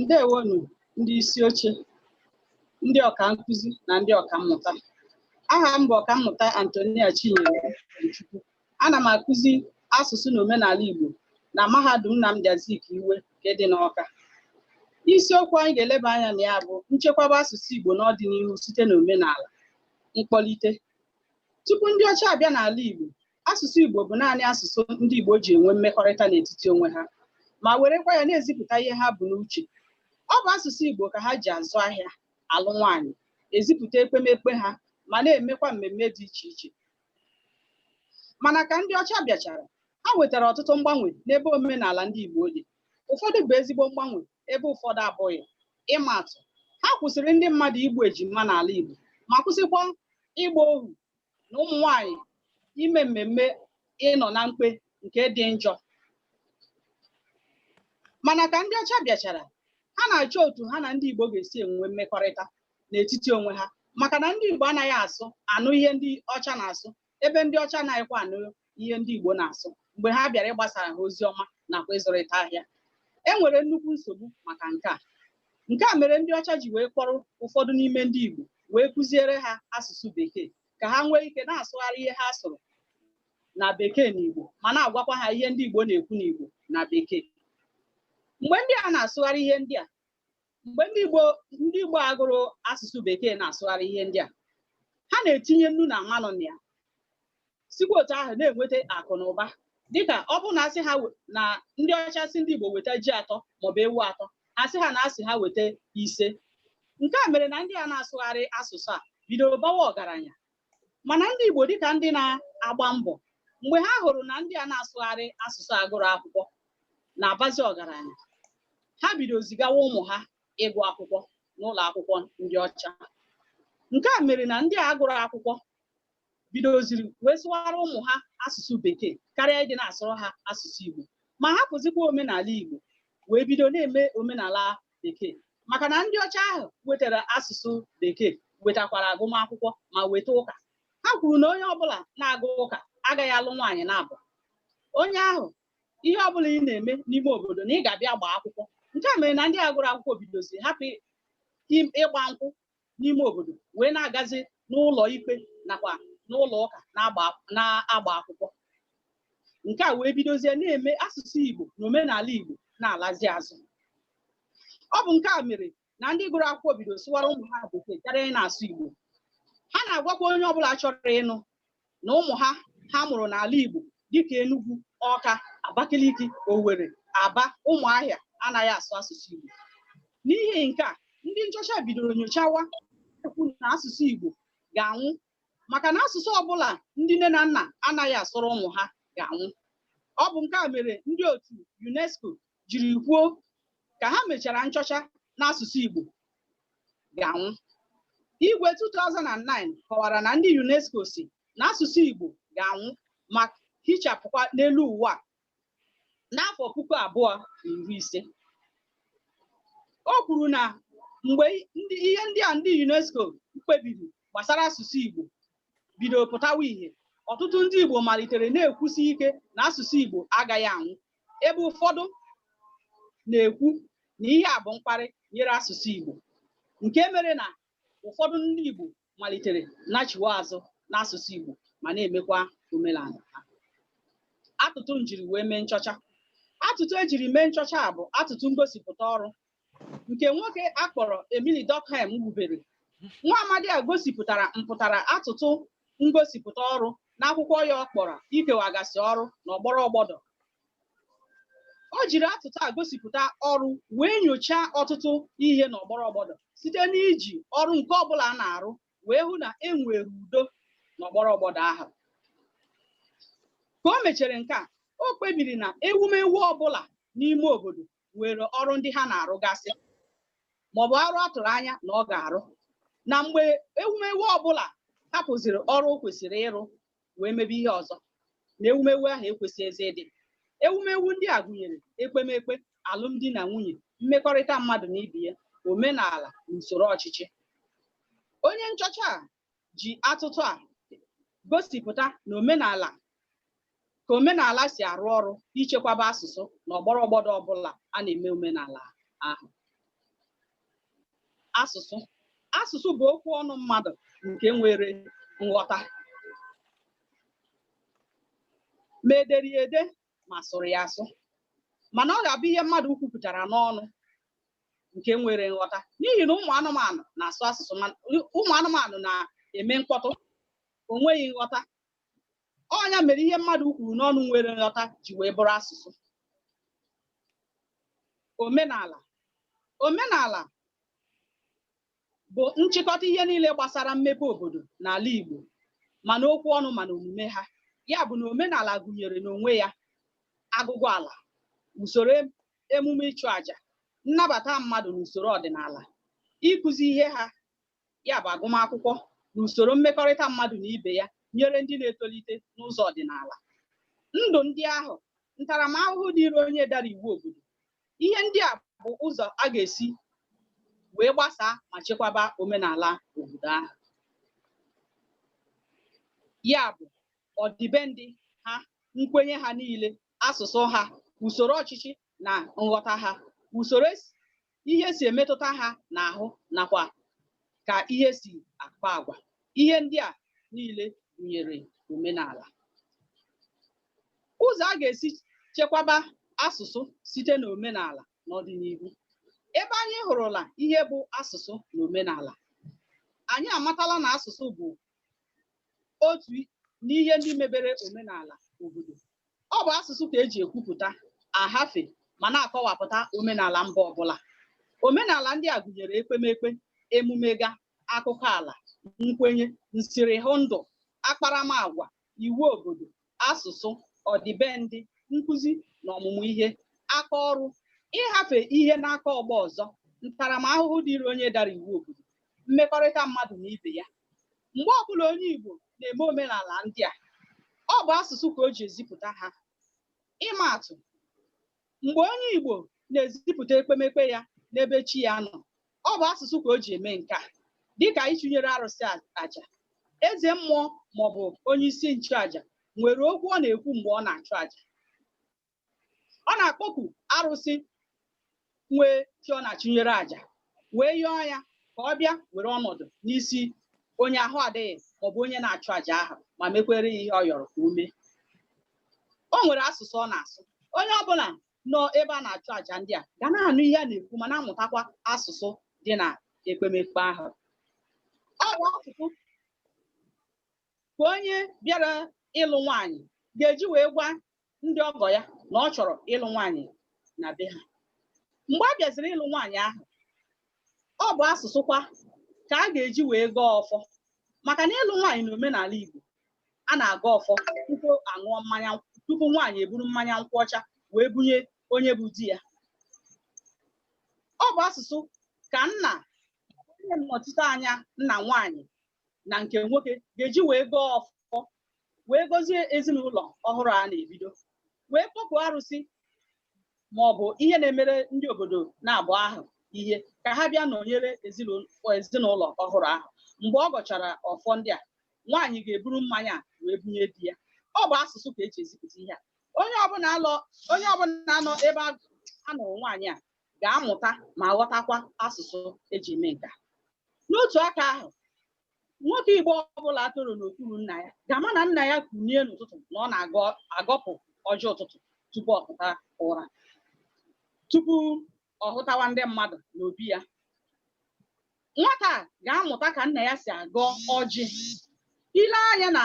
ndewonụ ndị isi oche ndị ọka nkụzi na ndị ọka mmụta aha m bụ ọka mmụta Anthonia Chinyere Chukwu Ana m akụzi asụsụ na omenala Igbo na mahadum Nnamdi Azikiwe nke dị n'Awka. Isiokwu anyị ga-eleba anya na ya bụ nchekwaba asụsụ Igbo n'ọdịnihu site na omenala, mkpọlite. Tupu ndị ọcha abịa n'ala Igbo, asụsụ Igbo bụ naanị asụsụ ndị Igbo ji enwe mmekọrịta n'etiti onwe ha ma werekwa ya na-ezipụta ihe ha bu n'uche. Ọ bụ asụsụ Igbo ka ha ji azụ ahịa, alụ nwaanyị, ezipụta ekpemekpe ha ma na-emekwa mmemme dị iche iche. mana ka ndị ọcha bịachara ha wetara ọtụtụ mgbanwe n'ebe omenala ndị Igbo dị ụfọdụ bụ ezigbo mgbanwe ebe ụfọdụ abụghị ịma atụ ha kwụsịrị ndị mmadụ igbu ejima n'ala Igbo ma kwụsịkwa ịgba ohu na ụmụ nwanyị ime mmemme ịnọ na mkpe nke dị njọ mana ka ndị ọcha bịachara ha na-achọ otu ha na ndị Igbo ga-esi enwe mmekọrịta n'etiti onwe ha maka na ndị Igbo anaghị asụ anụ ihe ndị ọcha na-asụ ebe ndị ọcha anaghịkwa anụ ihe ndị Igbo na-asụ mgbe ha bịara ịgbasara ha ozi ọma nakwa ịzụrịta ahịa e nwere nnukwu nsogbu maka nke a nke a mere ndị ọcha ji wee kpọrọ ụfọdụ n'ime ndị Igbo wee kụziere ha asụsụ bekee ka ha nwee ike na-asụgharị ihe ha sụrụ na bekee na Igbo ma na-agwakwa ha ihe ndị Igbo na-ekwu n'Igbo na bekee mgbe ndị a na-asụgharị ihe ndị a mgbe ndị Igbo a gụrụ asụsụ bekee na-asụgharị ihe ndị a ha na-etinye nnu na mmanụ na ya sikwa otu ahụ na-enweta akụ na ụba dịka ọ bụrụ na a sị ha na ndị ọcha sị ndị Igbo weta ji atọ maọbụ ewu atọ a sị ha na a sị ha weta ise nke a mere na ndị a na-asụgharị asụsụ a bidoro bawa ọgaranya mana ndị Igbo dịka ndị na-agba mbọ mgbe ha hụrụ na ndị a na-asụgharị asụsụ a gụrụ akwụkwọ na-abazi ọgaranya ha bido zigawa ụmụ ha ịgụ akwụkwọ n'ụlọ akwụkwọ ndị ọcha nke a mere na ndị a gụrụ akwụkwọ bidoziri wee sụwara ụmụ ha asụsụ bekee karịa ịdị na-asụrụ ha asụsụ Igbo ma hapụzikwa omenala Igbo wee bido na-eme omenala bekee maka na ndị ọcha ahụ wetara asụsụ bekee wetakwara agụmakwụkwọ ma weta ụka ha kwuru na onye ọbụla na-aga ụka agaghị alụ nwaanyị naabọ onye ahụ ihe ọbụla ị na-eme n'ime obodo na ị ga-abịa gbaa akwụkwọ nke a mere na ndị a gụrụ akwụkwọ bidoziri hapụ ịgba nkwụ n'ime obodo wee na-agazi n'ụlọ ikpe nakwa n'ụlọ ụka na-agba akwụkwọ nke a wee bidozie na-eme asụsụ Igbo na omenala Igbo na-alazi azụ ọ bụ nke a mere na ndị gụrụ akwụkwọ bido sụwara ụmụ ha bekee karịa na-asụ Igbo ha na-agwakwa onye ọbụla chọrọ ịnụ na ụmụ ha ha mụrụ n'ala Igbo dịka Enugu Ọka Abakaliki Owere Aba Ụmụahịa anaghị asụ asụsụ Igbo n'ihi nke a ndị nchọcha bidoro nyochawa kwuo na asụsụ Igbo ga-anwụ maka na asụsụ ọbụla ndị nne na nna anaghị asụrụ ụmụ ha ga-anwụ ọ bụ nke a mere ndị otu UNESCO jiri kwuo ka ha mechara nchọcha na asụsụ Igbo ga-anwụ. Igwe 2009 kọwara na ndị UNESCO sị na asụsụ Igbo ga-anwụ ma hichapụkwa n'elu ụwa n'afọ puku abụọ na iri ise. O kwuru na mgbe ihe ndị a ndị UNESCO kpebiri gbasara asụsụ Igbo bidoro pụtawa ihe ọtụtụ ndị Igbo malitere na-ekwusi ike na asụsụ Igbo agaghị anwụ ebe ụfọdụ na-ekwu na ihe a bụ mkparị e nyere asụsụ Igbo nke mere na ụfọdụ ndị Igbo malitere nachiwe azụ n'asụsụ Igbo ma na-emekwa omenala ha atụtụ m jiri wee mee nchọcha atụtụ ejiri mee nchọcha a bụ atụtụ ngosipụta ọrụ nke nwoke akpọrọ Emile Durkheim wubere nwa amadi a gosipụtara mpụtara atụtụ ngosipụta ọrụ n'akwụkwọ ya ọ kpọrọ ikewagasị ọrụ na ọgbọrọ ọgbọdọ o jiri atụtụ ngosipụta ọrụ wee nyochaa ọtụtụ ihe na ọgbọrọ ọgbọdọ site n'iji ọrụ nke ọbụla na-arụ wee hụ na e nwere udo na ọgbọrọ ọgbọdọ ahụ ka o mechara nke a o kpebiri na ewumewu ọbụla n'ime obodo nwere ọrụ ndị ha na-arụgasị maọbụ ọrụ a tụrụ anya na ọ ga-arụ na mgbe ewumewu ọbụla hapụziri ọrụ o kwesịrị ịrụ wee mebe ihe ọzọ na ewumewu ahụ ekwesịghịzi ịdị ewumewu ndị a gụnyere ekpemekpe alụmdi na nwunye mmekọrịta mmadụ na ibe ya omenala na usoro ọchịchị onye nchọcha a ji atụtụ a gosipụta na omenala ka omenala si arụ ọrụ ichekwaba asụsụ na ọgbọrọ ọgbọdọ ọbụla a na-eme omenala ahụ asụsụ asụsụ bụ okwu ọnụ mmadụ nke nwere nghọta ma edere ya ede ma a sụrụ ya asụ mana ọ ga-abụ ihe mmadụ kwupụtara n'ọnụ nke nwere nghọta n'ihi na ụmụ anụmanụ na-asụ asụsụ ma ụmụ anụmanụ na-eme mkpọtụ o nweghị nghọta ọ bụ ya mere ihe mmadụ kwuru n'ọnụ nwere nghọta ji wee bụrụ asụsụ omenala omenala bụ nchịkọta ihe niile gbasara mmepe obodo n'ala Igbo ma n'okwu ọnụ ma n'omume ha ya bụ na omenala gụnyere n'onwe ya agụgụ ala usoro emume ịchụ àjà nnabata mmadụ n'usoro ọdịnala ịkụzi ihe ha ya bụ agụmakwụkwọ na usoro mmekọrịta mmadụ na ibe ya nyere ndị na-etolite n'ụzọ ọdịnala ndụ ndị ahụ ntaramahụhụ dịịrị onye dara iwu obodo ihe ndị a bụ ụzọ a ga-esi wee gbasaa ma chekwaba omenala obodo ahụ ya bụ ọdịbendị ha nkwenye ha niile asụsụ ha usoro ọchịchị na nghọta ha usoro esi- ihe si emetụta ha n'ahụ nakwa ka ihe si akpa agwa ihe ndị a niile gụnyere omenala ụzọ a ga-esi chekwaba asụsụ site n'omenala n'ọdịnihu ebe anyị hụrụla ihe bụ asụsụ na omenala anyị amatala na asụsụ bụ otu n'ihe ndị mebere omenala obodo ọ bụ asụsụ ka eji ekwupụta ahafe ma na-akọwapụta omenala mba ọbụla omenala ndị a gụnyere ekpemekpe emume ga akụkọ ala nkwenye nsirihụ ndụ akparamagwa iwu obodo, asụsụ, ọdịbendị, nkụzi na ọmụmụ ihe, aka ọrụ, ịhafe ihe n'aka ọgbọ ọzọ, ntaramahụhụ dịịrị onye dara iwu obodo, mmekọrịta mmadụ na ibe ya. Mgbe ọbụla onye Igbo na-eme omenala ndị a, ọ bụ asụsụ ka o ji ezipụta ha. Ịma atụ, Mgbe onye Igbo na-ezipụta ekpemekpe ya n'ebe chi ya nọ, ọ bụ asụsụ ka o ji eme nke a, dịka ịchụnyere arụsị aja. Eze mmụọ maọbụ onye isi nchụaja nwere okwu ọ na-ekwu mgbe ọ na-achụ aja. Ọ na-akpọku arụsị nwe chi ọ na-achụnyere aja wee yọọ ya ka ọ bịa were ọnọdụ n'isi onye ahụ adịghị maọbụ onye na-achụ aja ahụ ma mekwere ya ihe ọ yọrọ ka o mee. o nwere asụsụ ọ na-asụ onye ọbụla nọ ebe a na-achụ àjà ndị a ga na-anụ ihe a na-ekwu ma na-amụtakwa asụsụ dị na ekpemekpe ahụ ọ bụ asụsụ ka onye bịara ịlụ nwaanyị ga-eji wee gwa ndị ọgọ ya na ọ chọrọ ịlụ nwaanyị na be ha mgbe a bịaziri ịlụ nwaanyị ahụ ọ bụ asụsụ kwa ka a ga-eji wee gọọ ọfọ maka na ịlụ nwaanyị na omenala Igbo a na-agọ ọfọ tupu a ṅụọ mmanya nkwụ tupu nwaanyị eburu mmanya nkwụ ọcha wee bunye onye bụ di ya ọ bụ asụsụ ka nna onye nnọchite anya nna nwaanyị na nke nwoke ga-eji wee gọọ ọfọ wee gọzie ezinụlọ ọhụrụ a na-ebido wee kpọkuo arụsị ma ọ bụ ihe na-emere ndị obodo naabụọ ahụ ihe ka ha bịa nọnyere ezinụlọ ezinụlọ ọhụrụ ahụ mgbe ọ gọchara ọfọ ndị a nwaanyị ga-eburu mmanya a wee bunye di ya ọ bụ asụsụ ka eji ezipụta ihe a onye ọbụla alọ onye ọbụla nọ ebe a nụrụ nwaanyị a ga-amụta ma ghọtakwa asụsụ eji eme nke a n'otu aka ahụ nwoke igbo ọbụla toro n'okpuru nna ya ga-ama na nna ya kunie n'ụtụtụ na ọ na-agọpụ ọjị ụtụtụ tupu ọ pụta ụra tupu ọ hụtawa ndị mmadụ n'obi ya nwata a ga-amụta ka nna ya si agọ ọjị i lee anya na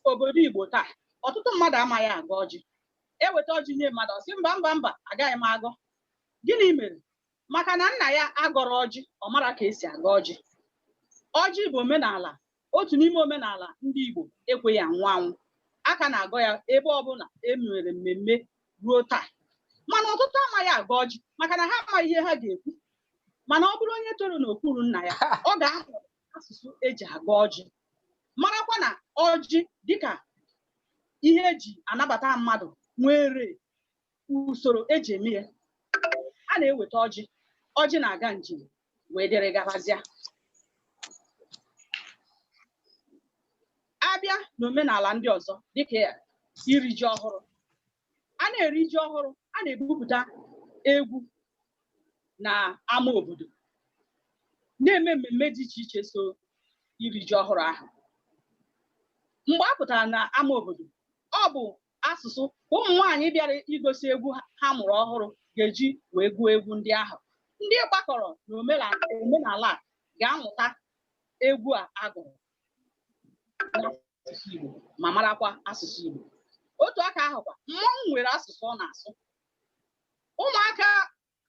obodo igbo taa ọtụtụ mmadụ amaghị agọ ọjị eweta ọjị nye mmadụ ọ sị mba mba mba agaghị m agọ gịnị mere maka na nna ya agọrọ ọjị ọ mara ka esi agọ ọjị ọjị bụ omenala otu n'ime omenala ndị Igbo ekweghị anwụ anwụ a ka na-agọ ya ebe ọbụla e mere mmemme ruo taa mana ọtụtụ amaghị agọ ọjị maka na ha amaghị ihe ha ga-ekwu mana ọ bụrụ onye toro n'okpuru nna ya ọ ga-ahụ asụsụ eji agọ ọjị marakwa na ọjị dịka ihe eji anabata mmadụ nwere usoro eji eme ya a na-eweta ọjị ọjị na-aga njem wee dịrị gabazia a bịa n'omenala ndị ọzọ dịka ya iri ji ọhụrụ a na-eri ji ọhụrụ a na-ebupụta egwu na ama obodo na-eme mmemme dị iche iche so iri ji ọhụrụ ahụ mgbe a pụtara na ama obodo ọ bụ asụsụ ka ụmụ nwaanyị bịara igosi egwu ha mụrụ ọhụrụ ga-eji wee gụọ egwu ndị ahụ ndị gbakọrọ n'omenala a ga-amụta egwu a agụrụ n'asụsụ Igbo ma marakwa asụsụ Igbo otu aka ahụkwa mmọnwụ nwere asụsụ ọ na-asụ ụmụaka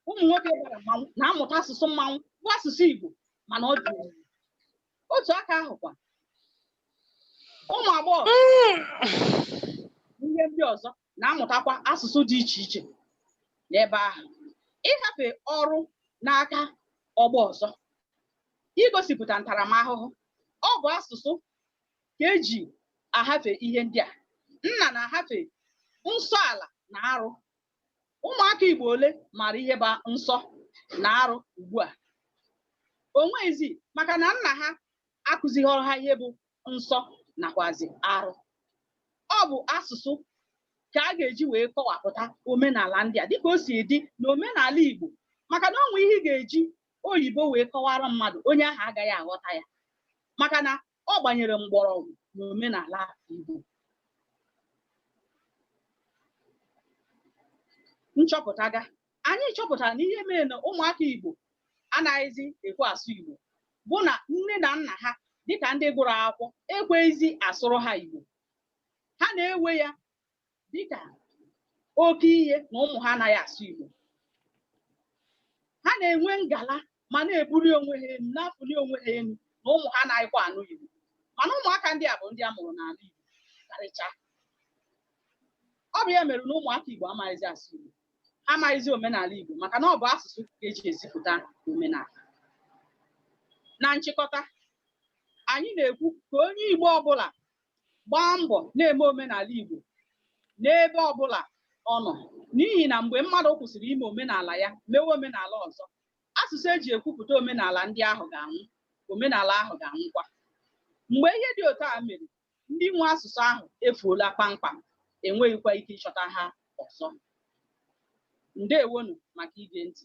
ụmụ nwoke bara mmanwụ na-amụta asụsụ mmanwụ bụ asụsụ Igbo mana ọ dị omimi. otu aka ahụkwa ụmụ agbọghọ ihe ndị ọzọ na-amụtakwa asụsụ dị iche iche n'ebe ahụ ịhafe ọrụ n'aka ọgbọ ọzọ igosipụta ntaramahụhụ ọ bụ asụsụ ka eji ahafe ihe ndị a nna na-ahafe nsọ ala na arụ ụmụaka Igbo ole maara ihe bụ nsọ na arụ ugbu a o nwezi maka na nna ha akụzighọrọ ha ihe bụ nsọ nakwazi arụ ọ bụ asụsụ ka a ga-eji wee kọwapụta omenala ndị a dịka o si dị na omenala Igbo maka na o nwe ihe ị ga-eji oyibo wee kọwara mmadụ onye ahụ agaghị aghọta ya maka na ọ gbanyere mgbọrọgwụ n'omenala Igbo nchọpụta ga anyị chọpụtara na ihe mere na ụmụaka Igbo anaghịzi ekwe asụ Igbo bụ na nne na nna ha dịka ndị gụrụ akwụkwọ ekweghịzi asụrụ ha Igbo ha na-ewe ya dịka oke ihe na ụmụ ha anaghị asụ Igbo ha na-enwe ngala ma na-ebuli onwe ha elu na-afụli onwe ha elu na ụmụ ha anaghịkwa anụ Igbo mana ụmụaka ndị a bụ ndị a mụrụ n'ala Igbo karịcha ọ bụ ya mere na ụmụaka Igbo amaghịzi asụ Igbo ha amaghịzi omenala Igbo maka na ọ bụ asụsụ ka eji ezipụta omenala na nchịkọta anyị na-ekwu ka onye Igbo ọbụla gbaa mbọ na-eme omenala Igbo n'ebe ọbụla ọ nọ n'ihi na mgbe mmadụ kwụsịrị ime omenala ya mewe omenala ọzọ asụsụ eji ekwupụta omenala ndị ahụ ga-anwụ omenala ahụ ga-anwụkwa mgbe ihe dị otu a mere ndị nwe asụsụ ahụ efuola kpamkpam enweghịkwa ike ịchọta ha ọzọ ndewonụ maka ige ntị